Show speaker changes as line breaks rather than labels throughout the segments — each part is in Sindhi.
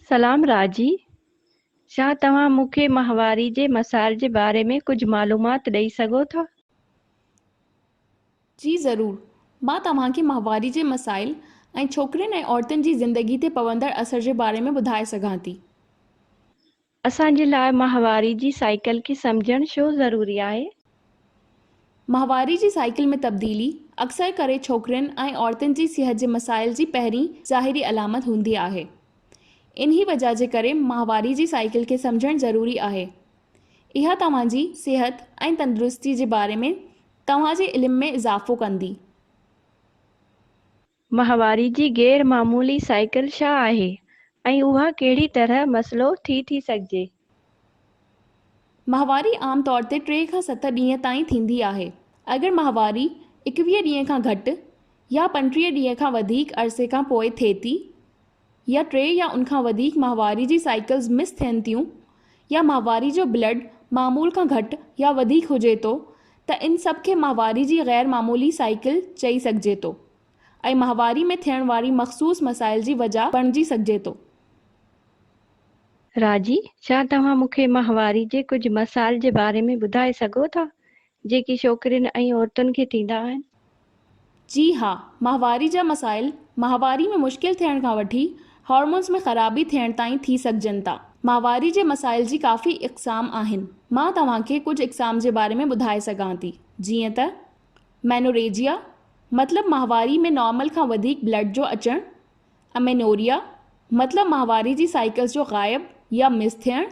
سلام راضي شاھ توھان مون کي ماھواري جي مسائل جي باري ۾ ڪجھ معلومات ڏئي سگھو ٿا؟
جي ضرور مان توھان کي ماھواري جي مسائل ۽ ڇوڪرين ۽ عورتن جي زندگي تي پوندڙ اثر جي باري ۾ ٻڌائي سگھان ٿي.
اسان جي لاء ماهواري جي سائيڪل کي سمجهڻ ڇو ضروري آهي؟
ماهواري جي سائيڪل ۾ تبديلي اڪثر ڪري ڇوڪرين ۽ عورتن جي صحت جي مسائل جي پهرين ظاهري علامت هوندي آهي. انهي وجهه جي ڪري ماهواري جي سائيڪل کي سمجهڻ ضروري آهي. اها توهان جي صحت ۽ تندرستي جي باري ۾ توهان جي علم ۾ اضافو ڪندي.
ماهواري جي غير معمولي سائيڪل ڇا آهي ۽ اها ڪهڙي طرح مسئلو ٿي ٿي سگهجي؟
ماهواري عام طور تي ٽي کان ست ڏينهن تائين ٿيندي آهي. اگر ماهواري ايڪويهه ڏينهن کان گهٽ يا پنٽيهه ڏينهن کان وڌيڪ عرصي کان پوء ٿئي ٿي، يا ٽي يا ان کان وڌيڪ ماهواري جي سائيڪلز مس ٿين ٿيون يا ماهواري جو بلڊ معمول کان گهٽ يا وڌيڪ هجي ٿو ته ان سڀ کي ماهواري جي غير معمولي سائيڪل چئي سگهجي ٿو ۽ ماهواري ۾ ٿيڻ واري مخصوص مسائل جي وجهه بڻجي سگهجي ٿو.
راضي، ڇا توهان مون کي ماهواري جي ڪجهه مسائل جي باري ۾ ٻڌائي سگهو ٿا؟ جيڪي ڇوڪرين ۽ عورتن کي ٿيندا آهن. جي
ها، ماهواري جا مسائل ماهواري ۾ مشڪل ٿيڻ کان وٺي هارمونز ۾ خرابي ٿيڻ تائين ٿي سگهجن ٿا. ماهواري جي مسائل جي ڪافي اقسام آهن. مان توهان کي ڪجهه اقسام جي باري ۾ ٻڌائي سگهان ٿي. جيئن ته، مينوريجيا، مطلب ماهواري ۾ نارمل کان وڌيڪ بلڊ جو اچڻ، امينوريا، مطلب ماهواري جي سائيڪلز جو غائب يا مس ٿيڻ،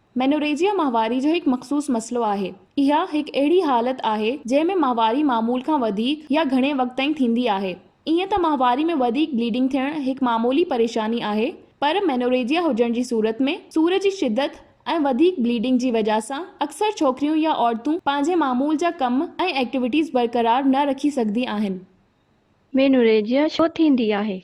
مينوريجيا
ماهواري جو هڪ مخصوص مسئلو آهي. اها هڪ اهڙي حالت آهي جنهن ۾ ماهواري معمول کان وڌيڪ يا گهڻي وقت تائين ٿيندي آهي. ائين ته ماهواري ۾ وڌيڪ بليڊنگ ٿيڻ هڪ معمولي پريشاني آهي پر مينوريجيا هجڻ جي صورت ۾ سور جي شدت ۽ وڌيڪ بليڊنگ جي وجهه سان اڪثر ڇوڪريون يا عورتون پنهنجي معمول جا ڪم ۽ ايڪٽيويٽيز برقرار نه رکي سگهندي آهن. مينوريجيا
ڇو ٿيندي آهي؟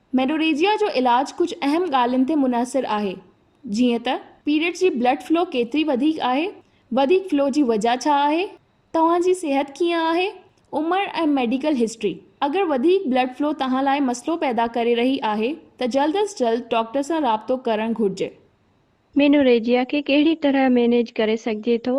مينوريجيا
جو علاج ڪجهه اهم ڳالهين تي منحصر آهي جيئن ته پيريڊ جي بلڊ فلو ڪيتري وڌيڪ آهي، وڌيڪ فلو جي وجهه ڇا آهي، توهان جي صحت ڪيئن آهي، عمر ۽ ميڊيڪل هسٽري. اگر وڌيڪ بلڊ فلو توهان لاء مسئلو پيدا ڪري رهي آهي ته جلد از جلد ڊاڪٽر سان رابطو ڪرڻ گهرجي. مينوريجيا
کي ڪهڙي طرح مينيج ڪري سگهجي ٿو؟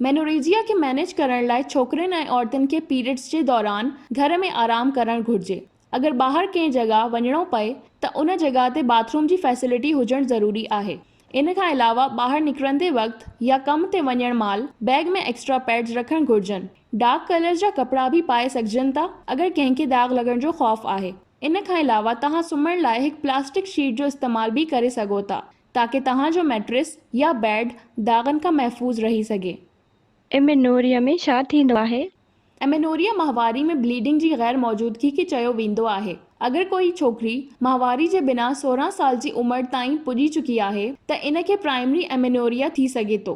مينوريجيا
کي مينيج ڪرڻ لاء ڇوڪرين ۽ عورتن کي پيريڊز جي دوران گهر ۾ آرام ڪرڻ گهرجي. اگر ٻاهر ڪنهن جڳهه وڃڻو پئي ته ان جڳهه تي باٿ روم جي فيسلٽي هجڻ ضروري آهي. ان کان علاوه ٻاهر نڪرندي وقت يا ڪم تي وڃڻ مهل بيگ ۾ ايڪسٽرا پيڊز رکڻ گهرجن. ڊارڪ ڪلرز جا ڪپڙا به پائي سگهجن ٿا اگر ڪنهن کي داغ لڳڻ جو خوف آهي. ان کان علاوه توهان سمهڻ لاء هڪ پلاسٽڪ شيٽ جو استعمال به ڪري سگهو ٿا تاڪه توهان جو ميٽريس يا بيڊ داغن کان محفوظ رهي سگهي. امينوريا
۾ ڇا ٿيندو آهي؟ امينوريا
ماهواري ۾ بليڊنگ جي غير موجودگي کي چيو ويندو آهي. اگر ڪوئي ڇوڪري ماهواري جي بنا سورهن سال جي عمر تائين پڄي چڪي آهي ته ان کي پرائمري امينوريا ٿي سگهي ٿو.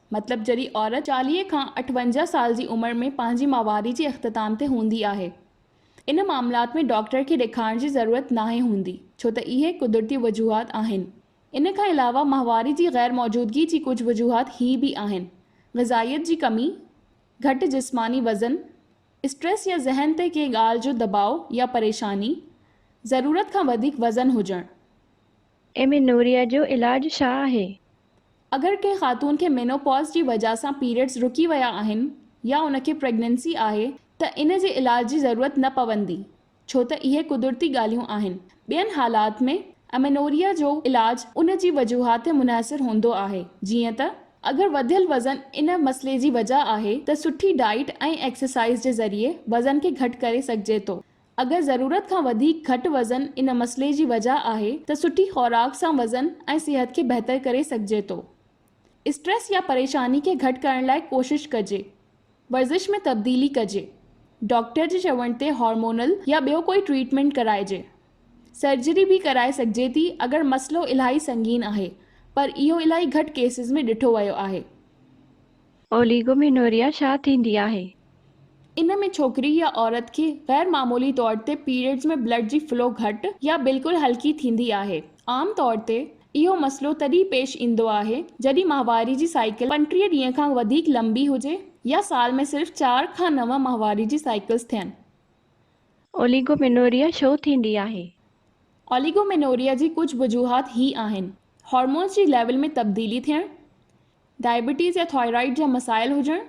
مطلب جڏهن عورت چاليهه کان اٺونجاهه سال جي عمر ۾ پنهنجي ماهواري جي اختتام تي هوندي آهي. ان معاملات ۾ ڊاڪٽر کي ڏيکارڻ جي ضرورت ناهي هوندي ڇو ته اهي قدرتي وجوهات آهن. ان کان علاوه ماهواري جي غير موجودگي جي ڪجهه وجوهات هي به آهن، غذائيت جي ڪمي، گهٽ جسماني وزن، اسٽريس يا ذهن تي ڪنهن ڳالهه جو دٻاء يا پريشاني، ضرورت
کان وڌيڪ
وزن
هجڻ.
ايمينوريا
جو علاج
ڇا
آهي؟
اگر ڪنهن خاتون کي مينوپاز جي وجهه سان پيريڊز رڪي ويا آهن يا ان کي پريگننسي آهي ته ان جي علاج جي ضرورت نه پوندي ڇو ته اهي قدرتي ڳالهيون آهن. ٻين حالات ۾ امينوريا جو علاج ان جي وجوهات تي منحصر هوندو آهي جيئن ته اگر وڌيل وزن ان مسئلي جي وجهه آهي ته سٺي ڊائيٽ ۽ ايڪسرسائيز جي ذريعي وزن کي گهٽ ڪري سگهجي ٿو اگر ضرورت کان وڌيڪ گهٽ وزن ان مسئلي جي وجهه آهي ته سٺي خوراڪ سان وزن ۽ صحت کي بهتر ڪري سگهجي ٿو. اسٽريس يا پريشاني کي گهٽ ڪرڻ لاء ڪوشش ڪجي. ورزش ۾ تبديلي ڪجي. ڊاڪٽر جي چوڻ تي هارمونل يا ٻيو ڪوئي ٽريٽمينٽ ڪرائجي. سرجري به ڪرائي سگهجي ٿي اگر مسئلو الاهي سنگين آهي پر اهو الاهي گهٽ ڪيسز ۾ ڏٺو ويو آهي. اوليگومينوريا
ڇا ٿيندي آهي؟ ان ۾
ڇوڪري يا عورت کي غير معمولي طور تي پيريڊز ۾ بلڊ جي فلو گهٽ يا بلڪل هلڪي ٿيندي آهي. عام طور تي اهو مسئلو تڏهن پيش ايندو آهي جڏهن ماهواري جي سائيڪل پنٽيهه ڏينهن کان وڌيڪ لنبي هجي يا سال ۾ صرف چار کان نو ماهواري جي سائيڪلز ٿين. اوليگومينوريا
ڇو ٿيندي آهي؟ اوليگومينوريا
جي ڪجهه وجوهات هي آهن، هارمونز جي ليول ۾ تبديلي ٿيڻ، ڊائبيٽيز يا ٿائرائيڊ جا مسائل هجڻ،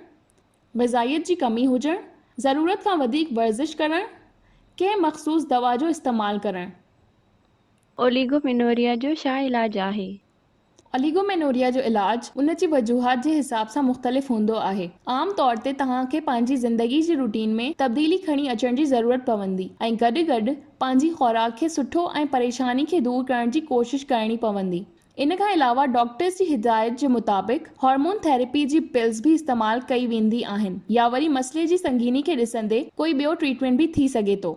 غذائيت جي ڪمي هجڻ، ضرورت کان وڌيڪ ورزش ڪرڻ، ڪنهن مخصوص دوا جو استعمال ڪرڻ. اوليگومينوريا
جو ڇا علاج آهي؟ اوليگومينوريا
جو علاج ان جي وجوهات جي حساب سان مختلف هوندو آهي. عام طور تي توهان کي پنهنجي زندگي جي روٽين ۾ تبديلي کڻي اچڻ جي ضرورت پوندي ۽ گڏ گڏ پنهنجي خوراڪ کي سٺو ۽ پريشاني کي دور ڪرڻ جي ڪوشش ڪرڻي پوندي. ان کان علاوه ڊاڪٽرز جي هدايت جي مطابق هارمون ٿيريپي جي پلز به استعمال ڪئي ويندي آهن يا وري مسئلي جي سنگيني کي ڏسندي ڪوئي ٻيو ٽريٽمينٽ به ٿي سگهي ٿو.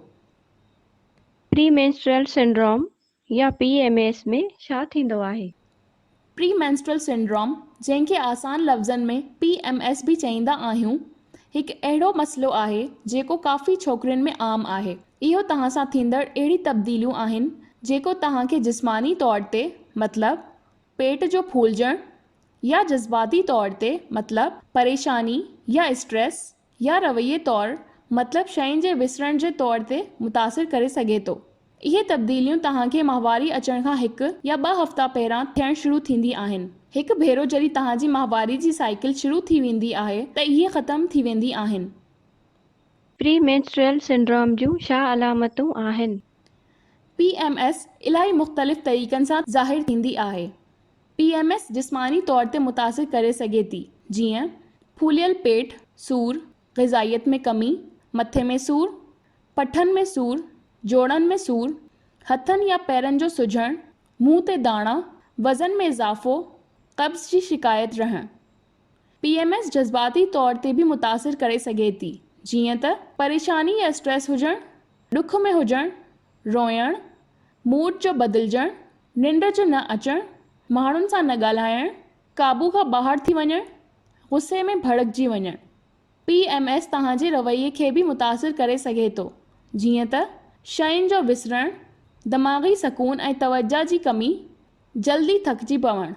پري مينسٽرل
سنڊروم يا پي ايم ايس ۾ ڇا ٿيندو آهي؟ پري
مينسٽرل سنڊروم، جنهن کي آسان لفظن ۾ پي ايم ايس به چئيندا آهيون، هڪ اهڙو مسئلو آهي جيڪو ڪافي ڇوڪرين ۾ عام آهي. اهو توهان سان ٿيندڙ اهڙي تبديليون آهن جيڪو توهان کي جسماني طور تي مطلب پيٽ جو ڦولجڻ يا جذباتي طور تي مطلب پريشاني يا اسٽريس يا رويي طور مطلب شين جي وسرڻ جي طور تي متاثر ڪري سگهي ٿو. اهي تبديليون توهان کي ماهواري اچڻ کان هڪ يا ٻه هفتا پهران ٿيڻ شروع ٿيندي آهن. هڪ ڀيرو جڏهن توهان جي ماهواري جي سائيڪل شروع ٿي ويندي آهي ته اهي ختم ٿي ويندي آهن. پري مينسٽريل
سنڊروم جون ڇا علامتون آهن؟ پي ايم
ايس الائي مختلف طريقن سان ظاهر ٿيندي آهي. پي ايم ايس جسماني طور تي متاثر ڪري سگهي ٿي جيئن ڦوليل پيٽ، سور، غذائيت ۾ ڪمي، مٿي ۾ سور، پٺن ۾ سور، جوڙن ۾ سور، هٿن يا پيرن جو سجڻ، منهن تي داڻا، وزن ۾ اضافو، قبض جي شڪايت رهڻ. پي ايم ايس جذباتي طور تي به متاثر ڪري سگهي ٿي، جيئن ته پريشاني يا اسٽريس هجڻ، ڏک ۾ هجڻ، روئڻ، موڊ جو بدلجڻ، ننڊ جو نه اچڻ، ماڻهن سان نه ڳالهائڻ، قابو کان ٻاهر ٿي وڃڻ، غصي ۾ ڀڙڪجي وڃڻ. پي ايم ايس توهان جي رويي کي به متاثر ڪري سگهي ٿو، جيئن ته شين جو وسرڻ، دماغي سڪون ۽ توجهه جي ڪمي، جلدي ٿڪجي پوڻ.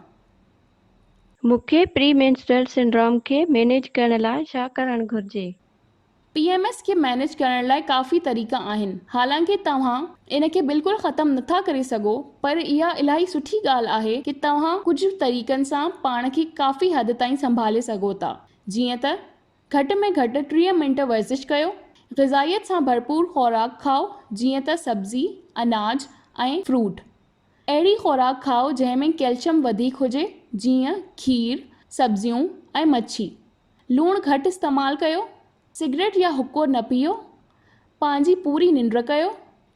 مون کي پري مينسٽرل سنڊروم کي مينيج ڪرڻ لاء ڇا ڪرڻ گهرجي؟ پي ايم ايس
کي مينيج ڪرڻ لاء ڪافي طريقا آهن حالانڪه توهان ان کي بلڪل ختم نٿا ڪري سگهو پر اها الاهي سٺي ڳالهه آهي ڪه توهان ڪجهه طريقن سان پاڻ کي ڪافي حد تائين سنڀالي سگهو ٿا جيئن ته گهٽ ۾ گهٽ ٽيهه منٽ ورزش ڪيو غذائيت سان ڀرپور خوراڪ کائو جيئن ته سبزي اناج ۽ فروٽ اهڙي خوراڪ کائو جنهن ۾ ڪيلشم وڌيڪ هجي جيئن کير سبزيون ۽ مڇي لوڻ گهٽ استعمال ڪيو، سگريٽ يا حقو نه پيئو، پنهنجي پوري ننڊ ڪيو،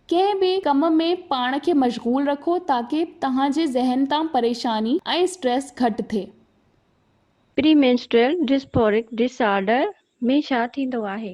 ڪنهن به ڪم ۾ پاڻ کي مشغول رکو تاڪه توهان جي ذهن تان پريشاني ۽ اسٽريس گهٽ ٿئي. پري مينسٽريل
ڊسفورڪ ڊس آرڊر ۾ ڇا ٿيندو آهي؟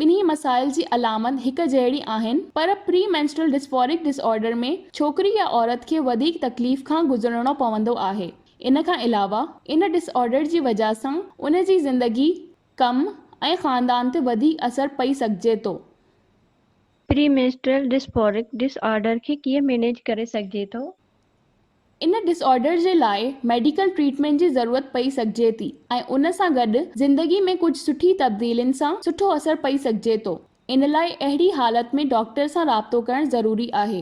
ٻنهي مسائل جي علامت هڪ جهڙي آهن پر پري مينسٽرل ڊسفورڪ ڊس آرڊر ۾ ڇوڪري يا عورت کي وڌيڪ تڪليف کان گذرڻو پوندو آهي. ان کان علاوه ان ڊس آرڊر جي وجهه سان ان جي زندگي، ڪم ۽ خاندان تي وڌيڪ اثر پئي سگهجي ٿو. پري مينسٽرل
ڊسفورڪ ڊس آرڊر کي ڪيئن مينيج ڪري سگهجي ٿو؟ ان
ڊس آرڊر جي لاء ميڊيڪل ٽريٽمينٽ جي ضرورت پئي سگهجي ٿي ۽ ان سان گڏ زندگي ۾ ڪجهه سٺي تبديلين سان سٺو اثر پئي سگهجي ٿو ان لاء اهڙي حالت ۾ ڊاڪٽر سان رابطو ڪرڻ ضروري آهي.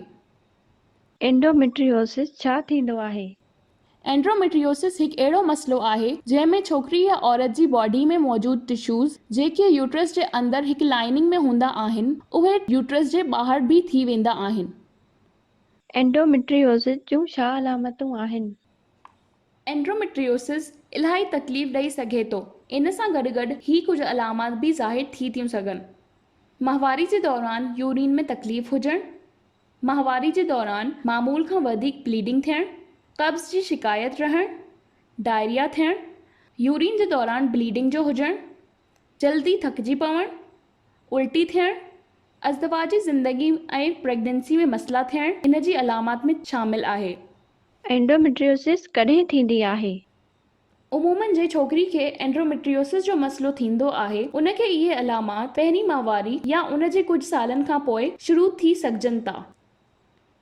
اينڊوميٽريوسس
ڇا ٿيندو آهي؟ اينڊوميٽريوسس
هڪ اهڙو مسئلو آهي جنهن ۾ ڇوڪري يا عورت جي باڊي ۾ موجود ٽشوز جيڪي يوٽرس جي اندر هڪ لائيننگ ۾ هوندا آهن اهي يوٽرس جي ٻاهر به ٿي ويندا آهن. اينڊوميٽريوسز
جون ڇا علامتون آهن؟ اينڊوميٽريوسز
الاهي تڪليف ڏئي سگهي ٿو. ان سان گڏ گڏ هي ڪجهه علامات به ظاهر ٿي ٿيون سگهن. ماهواري جي دوران يورين ۾ تڪليف هجڻ، ماهواري جي دوران معمول کان وڌيڪ بليڊنگ ٿيڻ، قبض جي شڪايت رهڻ، ڊائريا ٿيڻ، يورين جي دوران بليڊنگ جو هجڻ، جلدي ٿڪجي پوڻ، الٽي ٿيڻ، ازدواجي زندگي ۽ پريگننسي ۾ مسئلا ٿيڻ ان جي علامات ۾ شامل آهي. اينڊوميٽريوسس
ڪڏهن ٿيندي آهي؟ عمومن
جنهن ڇوڪري کي اينڊوميٽريوسس جو مسئلو ٿيندو آهي ان کي اهي علامات پهرين ماهواري يا ان جي ڪجهه سالن کان پوء شروع ٿي سگهجن ٿا.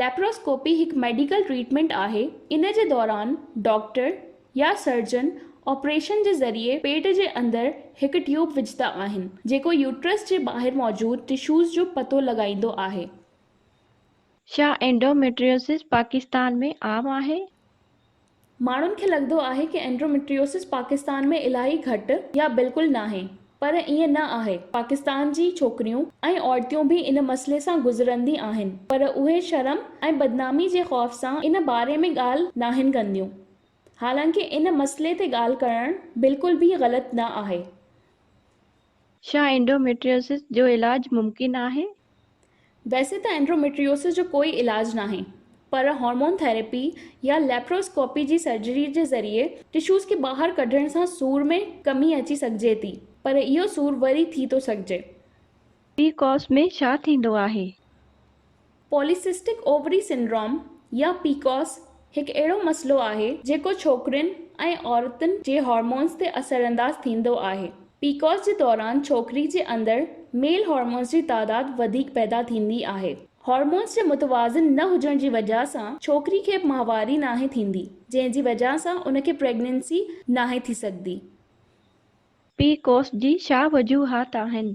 ليپروسڪوپي
هڪ ميڊيڪل ٽريٽمينٽ آهي، ان جي دوران ڊاڪٽر يا سرجن آپريشن جي ذريعي پيٽ جي اندر هڪ ٽيوب وجهندا آهن، جيڪو يوٽرس جي ٻاهر موجود ٽشوز جو پتو لڳائيندو آهي.
ڇا اينڊوميٽريوسس پاڪستان ۾ عام آهي؟
ماڻهن کي لڳندو آهي ڪي اينڊروميٽريوسس پاڪستان ۾ الاهي گهٽ يا بلڪل ناهي پر ائين نه آهي پاڪستان جي ڇوڪريون ۽ عورتيون به ان مسئلي سان گذرندي آهن پر اهي شرم ۽ بدنامي جي خوف سان ان باري ۾ ڳالهه ناهن ڪنديون حالانڪه ان مسئلي تي ڳالهه ڪرڻ بلڪل به غلط نه آهي.
ڇا اينڊوميٽريوسس جو علاج ممڪن آهي؟ ويسي
ته اينڊوميٽريوسس جو ڪوئي علاج ناهي پر هارمون ٿيراپي يا ليپرواسڪوپي جي سرجري جي ذريعي ٽشوز کي ٻاهر ڪڍڻ سان سور ۾ ڪمي اچي سگهجي ٿي پر اهو سور وري ٿي ٿو سگهجي. پي
ڪوس ۾ ڇا ٿيندو آهي؟
پوليسسٽڪ اووري سنڊروم يا PCOS هڪ اهڙو مسئلو آهي جيڪو ڇوڪرين ۽ عورتن جي هارمونز تي اثرانداز ٿيندو آهي. PCOS جي دوران ڇوڪري جي اندر ميل هارمونز جي تعداد وڌيڪ پيدا ٿيندي آهي. هارمونز جي متوازن نه هجڻ جي وجهه سان ڇوڪري کي ماهواري ناهي ٿيندي جنهن جي وجهه سان ان کي پريگننسي ناهي ٿي سگهندي. PCOS
جي ڇا وجوهات آهن؟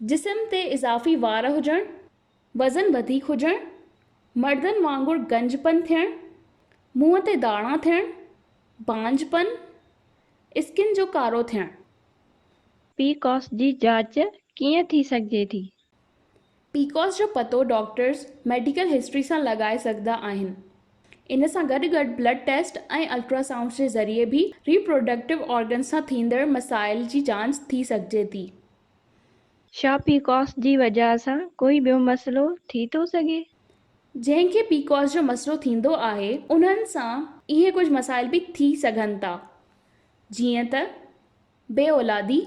جسم تي اضافي وار هجڻ، وزن وڌيڪ هجڻ، مردن وانگر گنج پن ٿيڻ، منهن تي داڻا ٿيڻ، بانجھ پن، اسڪن جو ڪارو ٿيڻ. پي
ڪوس جي جاچ ڪيئن ٿي سگهجي ٿي؟
پيڪوس جو پتو ڊاڪٽرز ميڊيڪل هسٽري سان لڳائي سگهندا آهن. ان سان گڏ گڏ بلڊ ٽيسٽ ۽ الٽرا سائونڊز جي ذريعي به ريپروڊڪٽو آرگنز سان ٿيندڙ مسائل جي جاچ ٿي سگهجي ٿي. ڇا
پيڪوس جي وجه سان ڪوئي ٻيو مسئلو ٿي ٿو سگهي؟ جنهن کي
پيڪوس جو مسئلو ٿيندو آهي انهن سان اهي ڪجهه مسائل به ٿي سگهن ٿا جيئن ته. بي اولادي،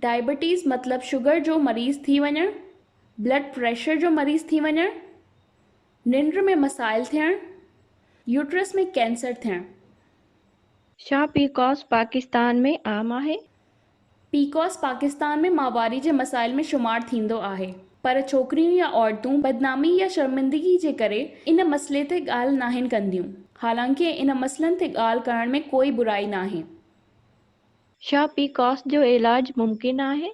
ڊائبيٽيز مطلب شگر جو مريض ٿي وڃڻ، بلڊ پريشر جو مريض ٿي وڃڻ، ننڊ ۾ مسائل ٿيڻ، يوٽرس ۾ ڪينسر ٿيڻ.
ڇا پي ڪوس پاڪستان ۾ عام آهي؟ پي ڪوس
پاڪستان ۾ ماهواري جي مسائل ۾ شمار ٿيندو آهي پر ڇوڪريون يا عورتون بدنامي يا شرمندگي جي ڪري ان مسئلي تي ڳالهه ناهن ڪنديون حالانڪه ان مسئلن تي ڳالهه ڪرڻ ۾ ڪوئي برائي ناهي.
ڇا پي ڪاس جو علاج ممڪن آهي؟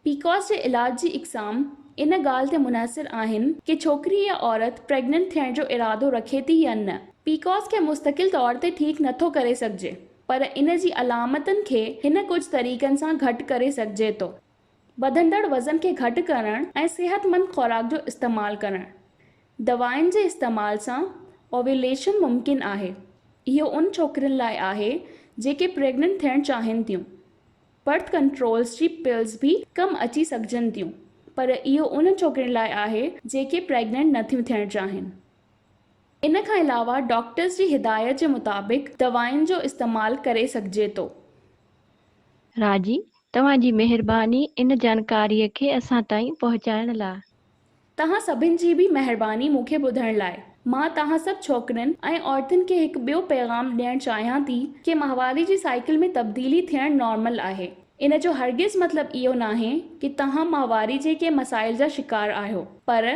پي ڪاس جي
علاج جي اقسام ان ڳالهه تي منحصر آهن ڪي ڇوڪري يا عورت پريگننٽ ٿيڻ جو ارادو رکي ٿي يا نه. پي ڪاس کي مستقل طور تي ٺيڪ نه ٿو ڪري سگهجي پر ان جي علامتن کي هن ڪجهه طريقن سان گهٽ ڪري سگهجي ٿو. وڌندڙ وزن کي گهٽ ڪرڻ ۽ صحتمند خوراڪ جو استعمال ڪرڻ. دوائن جي استعمال سان Ovulation ممڪن آهي. اهو ان ڇوڪرين لاء آهي جيڪي پريگننٽ ٿيڻ چاهين ٿيون. برٿ ڪنٽرولز جي پلز به ڪم اچي سگهجن ٿيون پر اهو انهن ڇوڪرين لاء آهي جيڪي پريگننٽ نٿيون ٿيڻ چاهين. ان کان علاوه ڊاڪٽرز جي هدايت جي مطابق دوائن جو استعمال ڪري سگهجي ٿو.
راڄي توهان جي مهرباني ان جانڪاري کي اسان تائين پهچائڻ لاء. توهان سڀن
جي به مهرباني مون کي ٻڌڻ لاء. مان توهان سڀ ڇوڪرين ۽ عورتن کي هڪ ٻيو پيغام ڏيڻ چاهيان ٿي ڪي ماهواري جي سائيڪل ۾ تبديلي ٿيڻ نارمل آهي. ان جو هرگز مطلب اهو ناهي ڪي توهان ماهواري جي ڪي مسائل جا شڪار آهيو پر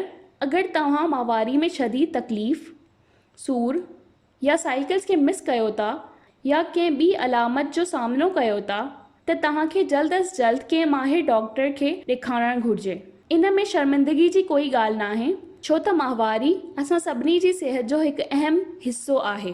اگر توهان ماهواري ۾ شديد تڪليف، سور، يا سائيڪلز کي مس ڪيو ٿا يا ڪنهن ٻي علامت جو سامنو ڪيو ٿا ته توهان کي جلد از جلد ڪنهن ماهر ڊاڪٽر کي ڏيکارڻ گهرجي. ان ۾ شرمندگي جي ڪوئي ڳالهه ناهي ڇو ته ماهواري اسان سڀني جي صحت جو هڪ اهم حصو آهي.